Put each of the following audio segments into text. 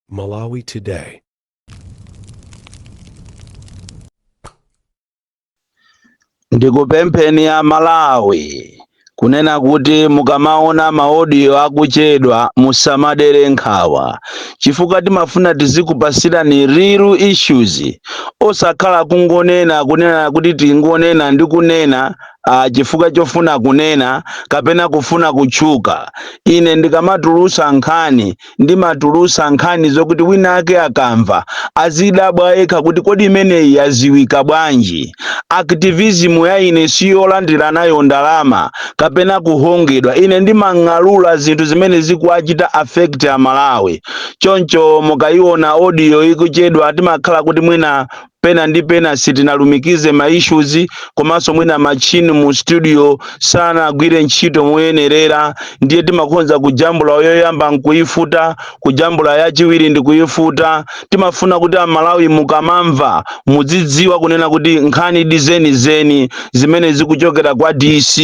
Malawi Today. ndikupempheni a malawi kunena kuti mukamaona maodiyo akuchedwa musamadere nkhawa chifukwa timafuna tizikupasirani real issues osakhala kungonena kunena kuti tingonena ndi kunena chifukwa chofuna kunena kapena kufuna kutchuka ine ndikamatulusa nkhani ndimatulusa nkhani zokuti wina ake akamva azidabwa yekha kuti kodi imeneyi aziwa bwanji activism ya ine siyolandira nayo ndalama kapena kuhongedwa ine ndimang'alula zinthu zimene zikuwachita affect amalawi choncho mukayiona audio ikuchedwa timakhala kuti mwina pena ndi pena sitinalumikize ma issues komanso mwina machine mu studio sanagwire ntchito moyenerera ndiye timakhonza kujambula yoyamba nkuyifuta kujambula yachiwiri ndi kuyifuta timafuna kuti amalawi mukamamva mudzidziwa kunena kuti nkhanidi zenizeni zimene zikuchokera kwa dc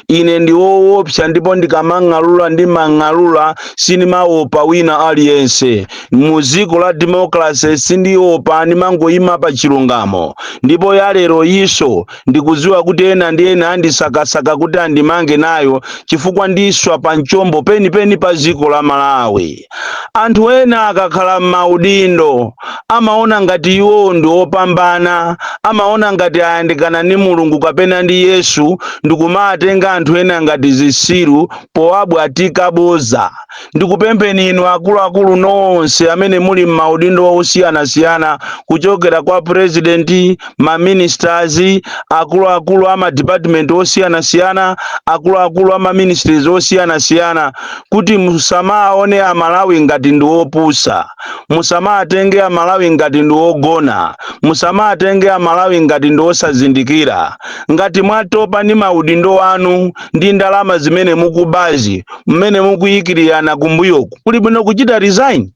ine ndi woopsa ndipo ndikamang'alula ndimang'alula sindimaopa wina aliyense mu dziko la democracy sindiopa ndimangoyima pa chilungamo ndipo ya lero iso ndikudziwa kuti ena ndi ena andisakasaka kuti andimange nayo chifukwa ndiswa pa mchombo penipeni pa dziko la malawi anthu ena akakhala m'maudindo amaona ngati iwo ndi opambana amaona ngati ayandikana ndi mulungu kapena ndi yesu ndikumatenga anthu ena ngati zisiru powabwatika boza ndikupempheni inu akuluakulu nonse amene muli m'maudindo osiyanasiyana kuchokera kwa purezidenti maministers akuluakulu a madipatimenti osiyanasiyana akuluakulu a maministries osiyanasiyana kuti musamaone amalawi ngati ndi opusa musamatenge amalawi ngati ndi ogona musamatenge amalawi ngati ndi osazindikira ngati mwatopa ndi maudindo anu ndi ndalama zimene mukubazi mmene mukuyikirirana kumbuyoku kuli bwino kuchita resign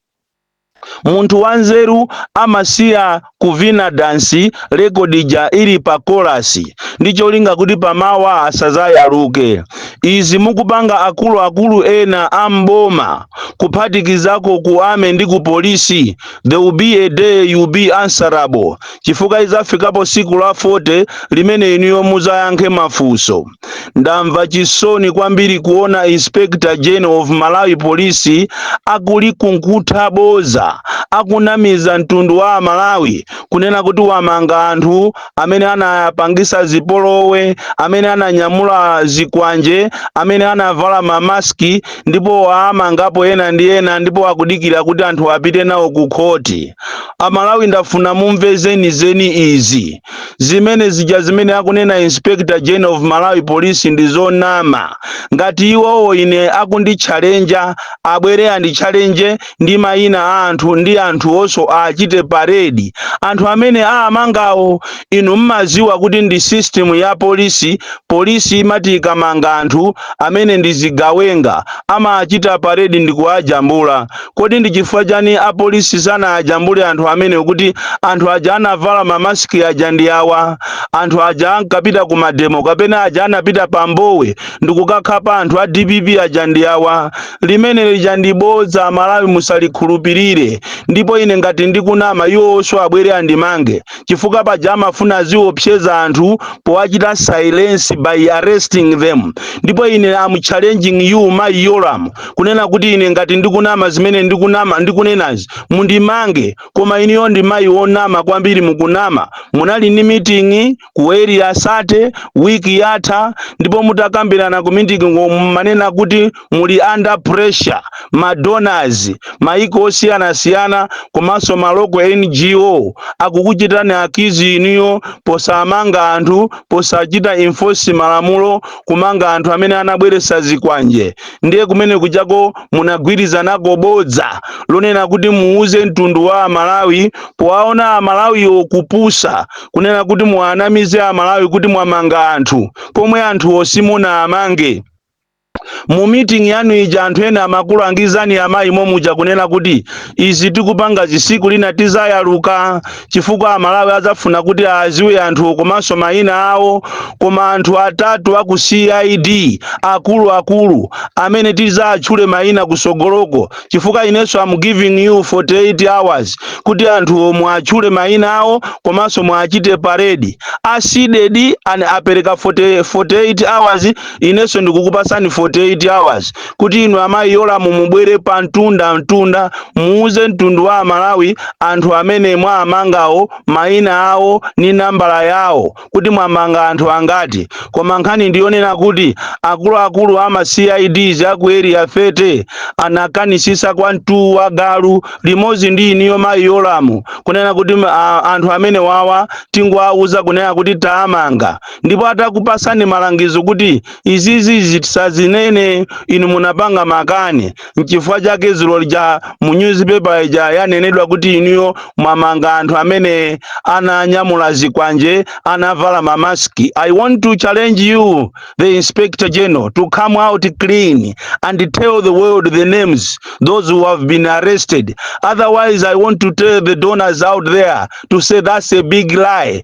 munthu wanzeru amasiya kuvina dansi rekodija ili pa kolasi ndi cholinga kuti pamawa asazayaluke izi mukupanga akuluakulu ena a mboma kuphatikizako ku army ndi ku polisi there will be a day you be answerable chifukwa lizafikapo siku la 40 limene inuyo muzayankhe mafunso ndamva chisoni kwambiri kuona inspector general of malawi police akulikunkhutha boza akunamiza mtundu wa amalawi kunena kuti wamanga anthu amene anapangisa zipolowe amene ananyamula zikwanje amene anavala mamaski ndipo waamangapo ena ndi ena ndipo akudikira kuti anthu apite nawo ku khoti amalawi ndafuna mumve zenizeni izi zimene zija zimene akunena inspector general of malawi police ndi zonama ngati iwowo ine akunditchalenja abwere anditchalenje ndi mayina a anthu ndi anthuwonso awachite paredi anthu amene aamangawo inu mmaziwa kuti ndi system ya polisi polisi imati ikamanga anthu amene ndi zigawenga amaachita paredi ndi kuwajambula Kodi ndi chifukwa chani apolisi sanawajambule anthu amene kuti anthu aja anavala ma mask aja ndi awa? Anthu aja ankapita ku mademo kapena aja anapita pa Mbowe ndikukakhapa anthu a DPP aja ndi awa? Limene lija ndi bodza Amalawi musalikhulupirire. Ndipo ine ngati ndikunama iwowonso abwere andimange chifukwa paja amafuna aziwopseza anthu powachita silence by arresting them. Ndipo ine am challenging you Mayi Yolamu kunena kuti ine ngati ndikunama zimene ndikunama ndikunenazi mundimange koma iniyo ndi mayi wonama kwambiri mukunama munali ndi miting'i ku area 30 wiki yatha ndipo mutakambirana ku miting'i mumanena kuti muli under pressure ma donors maiko osiyanasiyana komanso ma local ngo akukuchitani accuse iniyo posamanga anthu posachita enforce malamulo kumanga anthu amene anabweretsa zikwanje ndiye kumene kujako munagwirizanako bodza lonena kuti muuze mtundu wa amalawi powaona amalawiwo kupusa kunena kuti muwanamize amalawi kuti mwamanga anthu pomwe anthuwo simunawamange mu meeting yanu ija anthu ena amakulangizani amayi momuja kunena kuti izi tikupangazi siku lina tizayaluka chifukwa amalawi adzafuna kuti awaziwe anthu komanso mayina awo koma anthu atatu aku cid akuluakulu amene tizatchule mayina kusogoloko chifukwa inenso am giving you 48 hours kuti anthuwo muatchule mayina awo komanso muachite paredi a cdedi apereka 48 hours inenso ndikukupasani 48 hours kuti inu amayi Yolamu mubwere pa mtunda mtunda muuze mtundu wa amalawi anthu amene mwaamangawo mayina awo ni nambala yawo kuti mwamanga anthu angati koma nkhani ndiyonena kuti akuluakulu ama cids aku area 30 anakanisisa kwa mtu wa galu limodzi ndi inuyo mayi Yolamu kunena kuti m- a- anthu amenewawa tingowauza kunena kuti taamanga ndipo atakupasani malangizo kuti izizi tisazinene inu munapanga makani nchifukwa chake zulo lija mu newspaper ija yanenedwa kuti inuyo mwamanga anthu amene ananyamula zikwanje anavala mamaski i want to challenge you the inspector general to come out clean and tell the world the names those who have been arrested otherwise i want to tell the donors out there to say that's a big lie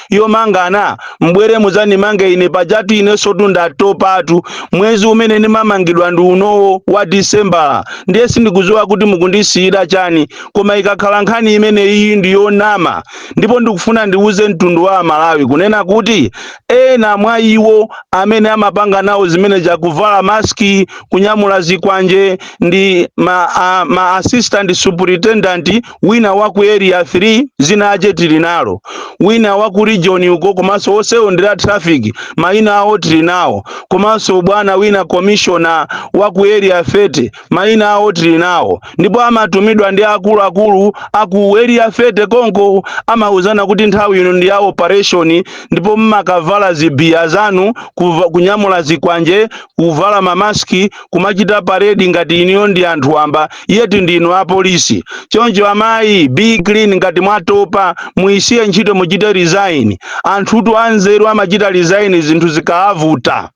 yomangana mubwere mudzandimange ine pajatu inensotu ndatopatu mwezi umene ndimamangidwa ndi unowo wa disembala ndiye sindikudziwa kuti mukundisiyira chani koma ikakhala nkhani imeneyi ndi yonama ndipo ndikufuna ndiwuze mtundu wa amalawi kunena kuti ena mwa iwo amene amapanga nawo zimene zija kuvala maski kunyamula zikwanje ndi ma, a, ma assistant superintendent wina wa ku area 3 dzina lache tili nalo wina wa ku region uko komanso onsewo ndi a traffic mayina awo tili nawo komanso bwana wina commissioner wa ku area 30 mayina awo tili nawo ndipo amatumidwa ndi akuluakulu aku area 30 konko amauzana kuti nthawi ino ndi ya operation ndipo mmakavala zibiya zanu kuva- kunyamula zikwanje kuvala mamaski kumachita paredi ngati inuyo ndi anthu wamba yeti ndinu apolisi choncho amayi be clean ngati mwatopa muyisiye ntchito muchite resign anthutu anzeru amachita resign zinthu zikaavuta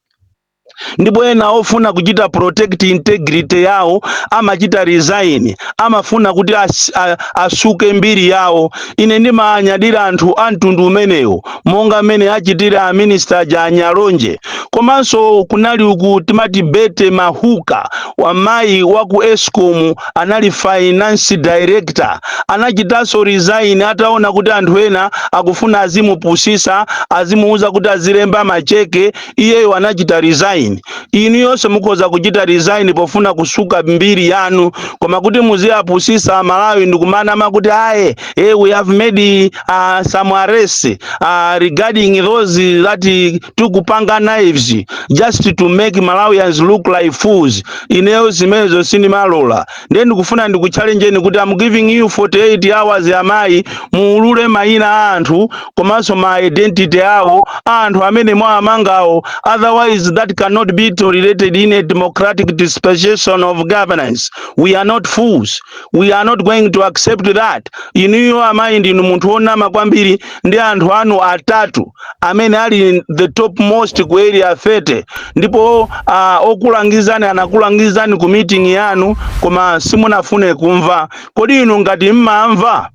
ndipo ena ofuna kuchita protect integrity yawo amachita resign amafuna kuti as, a, asuke mbiri yawo ine ndimanyadira anthu a mtundu umenewo monga mmene achitira aminista aja a NyaLonje komanso kunali uku timati Betty Mahuka amayi wa ku escom anali finance director anachitanso resign ataona kuti anthu ena akufuna azimupusisa azimuuza kuti azilemba macheke iyeyo anachita resign inuyonso mukhoza kuchita resign pofuna kusuka mbiri yanu koma kuti muziyapusisa amalawi ndikumanama kuti aye eh, we have made uh, some arrests uh, regarding those that uh, took panga knives just to make malawians look like fools ineyo zimenezo sindimalola ndiye ndikufuna ndikuchallenjeni kuti am giving you 48 hours amayi muulule mayina a anthu komanso ma identity awo a anthu amene mwawamangawo otherwise that cannot be tolerated in a democratic dispensation of governance we are not fools we are not going to accept that inuyo amayi ndinu munthu wonama kwambiri ndi anthu anu atatu amene ali the top most ku area 30 ndipo uh, okulangizani anakulangizani ku meeting yanu koma simunafune kumva kodi inu ngati mmamva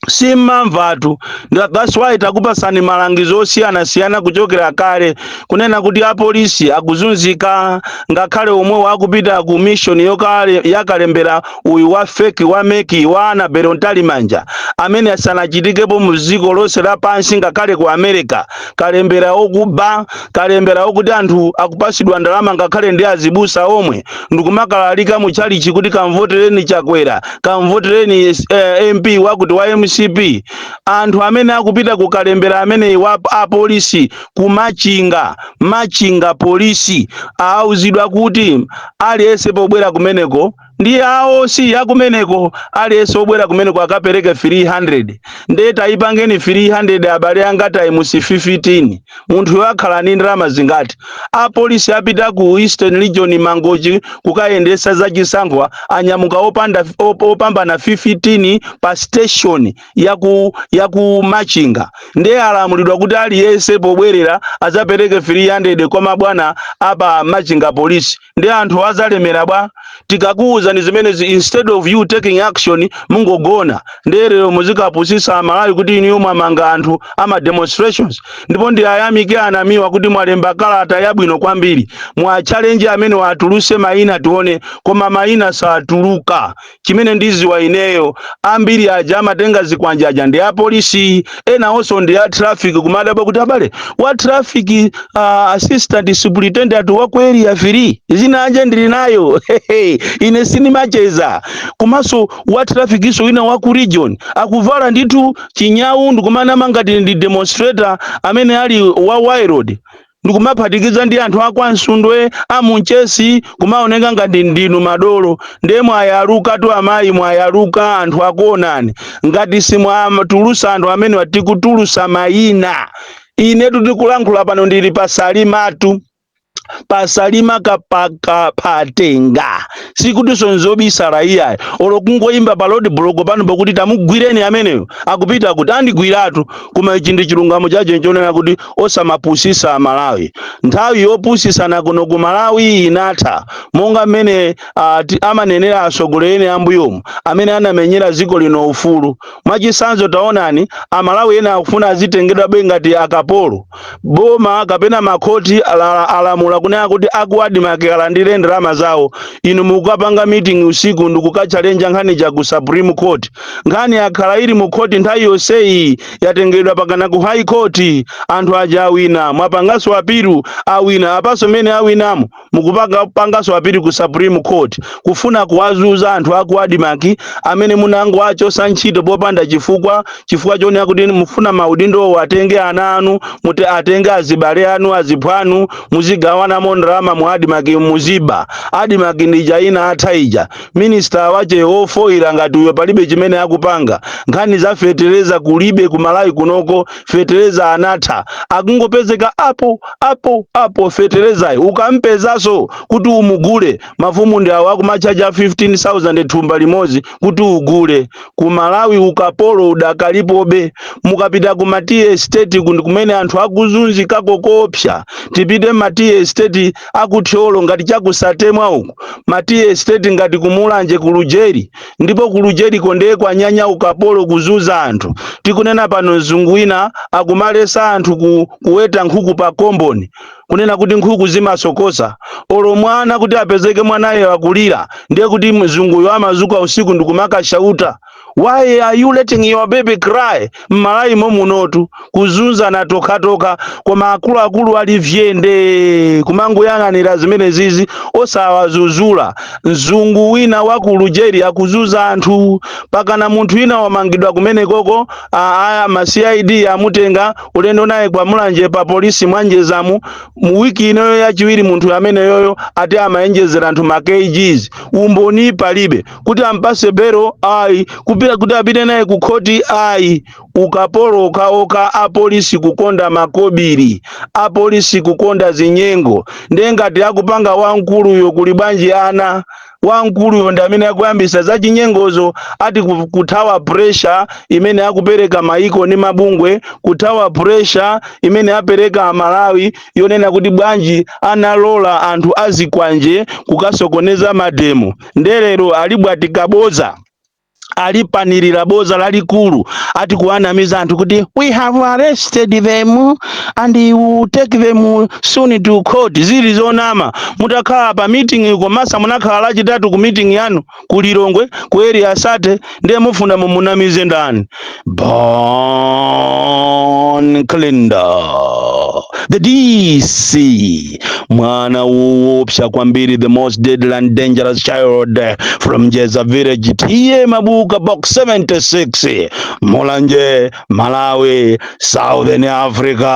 simmamvatu ndiye that's why takupasani malangizo osiyanasiyana kuchokera kale kunena kuti apolisi akuzunzika ngakhale omwewo akupita ku mission yakale- yakalembera uyu wa feki wa meki wa Annabel Mtalimanja amene asanachitikepo mu dziko lonse lapansi ngakhale ku america kalembera okuba kalembera wokuti anthu akupasidwa ndalama ngakhale ndi azibusa omwe ndikumakalalika mu chalichi kuti kamvotereni chakwera kamvotereni eh, mp wakuti wa mcp anthu amene akupita ku kalembera ameneyi wa apolisi ku Machinga Machinga polisi auzidwa kuti aliyense pobwera kumeneko ndi a OC akumeneko aliyense obwerera kumeneko akapereke 300 ndiye tayipangeni 300 abale anga times 15 munthu akhala ni ndalama zingati apolisi apita ku eastern region mangochi kukayendesa za chisankho anyamuka opanda op, opambana 15 pa station ya ku ya ku machinga ndiye alamulidwa kuti aliyense pobwerera azapereke 300 kwa mabwana apa machinga polisi ndi anthu azalemera bwa tikakuwuzani zimenezi instead of you taking action mungogona ndiye lero muzikapusisa amalawi kuti inuyo mwamanga anthu ama demonstrations ndipo ndiayamike a Namiwa kuti mwalemba kalata yabwino kwambiri mwachallenja ameneo atuluse maina tione koma maina satuluka chimene ndiziwa ineyo ambiri aja amatenga zikwanje aja ndi apolisi ena onso ndi a traffic kumadabwa kuti abale wa traffic uh, assistant superintendent wa ku area 3 dzina lake ndili nalo Hehe, ine sindimacheza komanso wa traffic-nso wina wa ku region akuvala ndithu chinyau ndikumanama ngati ndi demonstrator amene ali wa waya ndikumaphatikiza ndi anthu akwa Nsundwe a Munchesi kumaoneka ngati ndinu madolo ndiye mwayaluka tu amayi mwayaluka anthu akuonani ngati simwatulusa anthu amene tikutulusa mayina inetu ndikulankhula pano ndili pasalimatu pasalima kapaka patenga sikuti nzobisalayi ayi olo kungoyimba pa road block pano pakuti tamugwireni ameneyo akupita kuti andigwiratu koma ichi ndi chilungamo chake chonena kuti osamapusisa amalawi nthawi yopusisana kuno ku malawi inatha monga mmene ah, ti- amanenera atsogoleri ena ambuyomu amene anamenyera dziko lino ufulu mwachisanzo taonani amalawi ena akufuna azitengedwabe ngati akapolo boma kapena makhoti ala- alamula kunena kuti aku adimaki alandire ndalama zawo inu mukukapanga meeting usiku ndikukatchalenja nkhani ja ku supreme court nkhani yakhala ili mu khoti nthawi yonseyi yatengedwa pakana ku high court anthu aja awina mwapangaso apiru awina apaso mene awinamo mukupanga pangaso apiru ku supreme court kufuna kuwazuza anthu aku adimaki amene munangowachosa ntchito popanda chifukwa chifukwa chonena kuti mufuna maudindowo atenge ana anu muti atenge azibale anu aziphwanu muzigawanamo ndalama mu adimaki muziba adimaki ndi ija inatha ija Minister wache ofoira ngati uyo palibe chimene akupanga. Nkhani za fetereza kulibe ku Malawi kunoko fetereza anatha. Akungopezeka apo apo apo feterezayo ukampezaso kuti umugule mafumu ndi awo akumatchaja 15000 thumba limozi kuti ugule. Ku Malawi ukapolo udakalipobe. Mukapita ku ma tea estate ku ndi kumene anthu akuzunzikako koopsa. Tipite ma tea estate aku Thyolo ngati chaku Satemwa uku ma tea estate ngati kumulanje kulujeri ndipo kulujeriko ndiye kwanyanya ukapolo kuzuza anthu tikunena pano mzungu wina akumalesa anthu ku, kuweta nkhuku pa komboni kunena kuti nkhuku zimasokosa olo mwana kuti apezeke mwanayo akulira ndiye kuti mzunguyo amazuka usiku ndikumakashauta why are you letting your baby cry mmalawi mommunotu kuzunzana tokhatokha koma akuluakulu ali vyende kumangoyang'anira zimene zizi osawazuzula mzungu wina wa ku lujeri akuzuza anthu pakana munthu wina wamangidwa kumene koko aya ma cid amutenga ulendo naye ku mulanje pa polisi mwanjezamu mu wiki inoyo yachiwiri munthu ameneyoyo ati amaonjezera anthu ma kgs umboni palibe kuti ampatse belo ayi kupita kuti apite naye ku khoti ayi ukapolo okhaokha apolisi kukonda makobiri apolisi kukonda zinyengo ndiye ngati akupanga wamkuluyo kuli bwanji ana wamkuluyo ndi amene akuyambisa za chinyengozo ati ku- kuthawa pressure imene akupereka maiko ndi mabungwe kuthawa pressure imene akupereka amalawi yonena kuti bwanji analola anthu azikwanje kukasokoneza mademo nde lero alibwatika boza alipanirira boza lalikulu ati kuwanamiza anthu kuti we have arrested them and we will take them soon to court zili zonama mutakhala pa meeting komanso munakhala lachitatu ku meeting yanu ku lilongwe ku area thirty ndiye mufuna mumunamize ndani bon clinda the dc mwana woopsa kwambiri the most deadly and dangerous child from jeza village tiye mabuka box 76 mulanje malawi southern africa